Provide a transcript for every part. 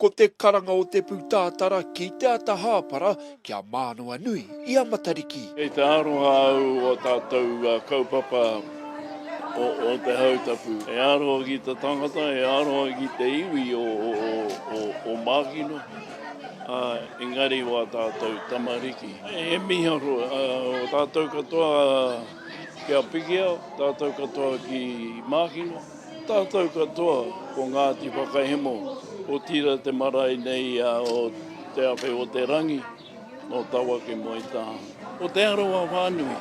Ko te karanga o te pūtātara ki te ata hāpara kia Mānawanui i a Matariki. Kei te aroha au o tātou kaupapa o te Hautapu. E aroha ki te tangata, e aroha ki te iwi o Mākino. Ā, engari o ā tātou tamariki. He mīharo o tātou katoa ki a Pikia, tātou katoa ki Mākino, tātou katoa ko Ngāti Whakahemo, otirā te marae nei o Te Awhe-o-te-rangi, nō Tawake moe tā. Ko Te Arawa whānui.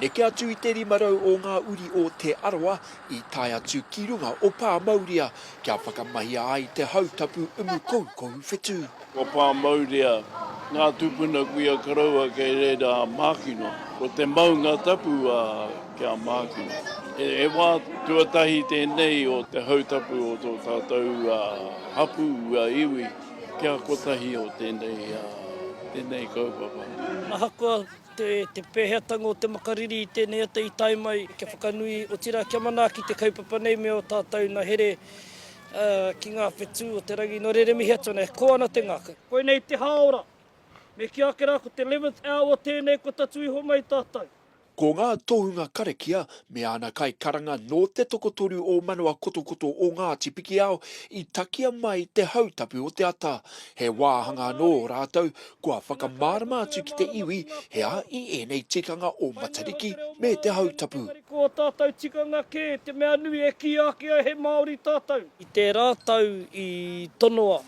Neke atu i te rima rau o ngā uri o Te Arawa i tae atu ki runga o Pāmauria, Kia whakamahia ai te hau tapu umu koukou whetū. Kua pā maurea ngā tūpuna kuia koroua kei reira a Mākino. Ko te maunga tapu a ki a Mākino. He wā tuatahi tēnei o te hau tapu o tō tātou hapū a iwi kia kotahi o tēnei kaupapa. Ahakoa Te pēheatanga o te makariri i tēnei ata i tae mai kia whakanui, otirā kia manaaki te kaupapa nei me ō tātou na here ki ngā whetū o te rangi. Nō reira e mihi atu ana, e kō ana te ngākau. Koinei te hāora. Me kī ake rā ko te eleventh hour tēnei kua tatū iho mai tātou. Ko ngā tohunga karakia me āna kaikaranga nō te tokotoru o Manawa Kotokoto o Ngāti Pikiao i takea mai te hautapu o te ata. He wāhanga anō rātou Kua whakamārama atu ki te iwi he aha i ēnei tikanga o Matariki me te Hautapu. Tamariki o tātou tikanga kē, te mea nui e kīia ake ai he Māori tātou. I tērā tau i tonoa,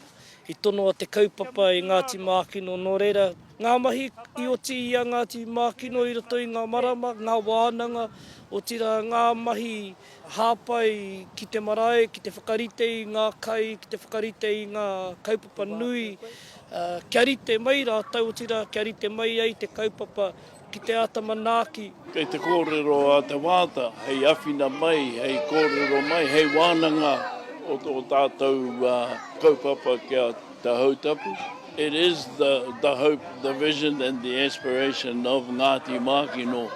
i tonoa te kaupapa e Ngāti Mākino nō reira, ngā mahi i oti i a Ngāti Mākino i roto i ngā marama, ngā wānanga, otirā ngā mahi. Hāpai ki te marae, ki te whakarite i ngā kai, ki te whakarite i ngā kaupapa nui, kia rite mai rātou, otirā kia rite mai ai te kaupapa ki te āta manaaki. Kei te kōrero a Te Waata hei awhina mai, hei kōrero mai, hei wānanga o tō tātou kaupapa kia. Te Houtapu, It is the the hope, the vision and the aspiration of Ngāti Mākino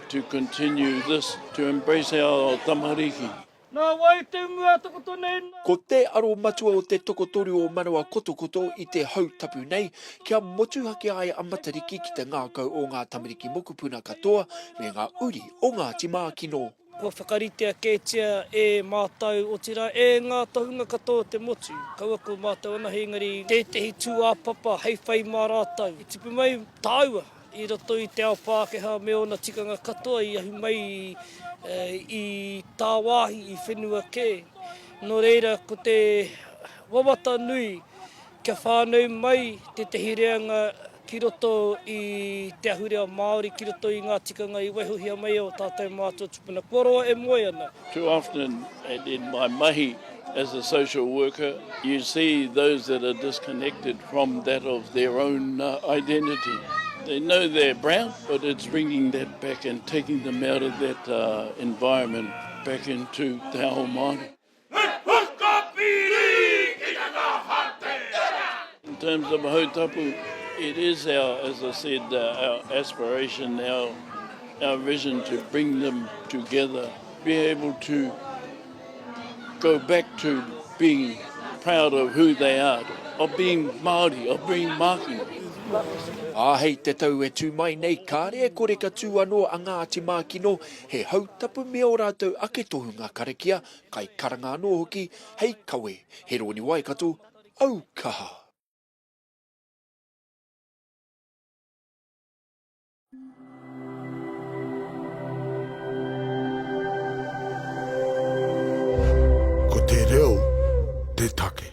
to continue this, to embrace our tamariki. Nā wai te mua tokoto nei nā? Ko te aro matua o te tokotoru o Manawa Kotokoto i te Houtapu nei, kia motuhake ai a Matariki ki te ngākau o ngā tamariki mokupuna katoa me ngā uri o Ngāti Mākino. Kua whakaritea kētia e mātou, otirā e ngā tohunga katoa o te motu, kaua ko mātou anahe engari tētehi tūāpapa hei whai mā rātou. I tipu mai tāua i roto i te ao Pākehā me ōna tikanga katoa i ahu mai i tāwāhi, i whenua kē. Nō reira, ko te wawata nui kia whānau mai tētehi reanga ki roto i te ahurea Māori, ki roto i ngā tikanga i waihohia mai e ō tātou mātua tupuna kua roa e moe ana. Too often in my mahi as a social worker, you see those that are disconnected from that of their own identity. They know they're brown, but it's bringing that back and taking them out of that environment back into te ao Māori. He whakapiri ki te tahatera. In terms of Hau Tapu, it is our, as I said, our aspiration, our, our vision to bring them together, be able to go back to being proud of who they are, of being Māori, of being Māori. Ā, hei te tau e tū mai nei, kāre e kore ka tū anō a Ngāti Mākino He hautapu me ō rātou ake tohunga karakia, kaikaranga anō hoki, hei kawe, he rōni Waikato, au kaha! Ko te reo te take.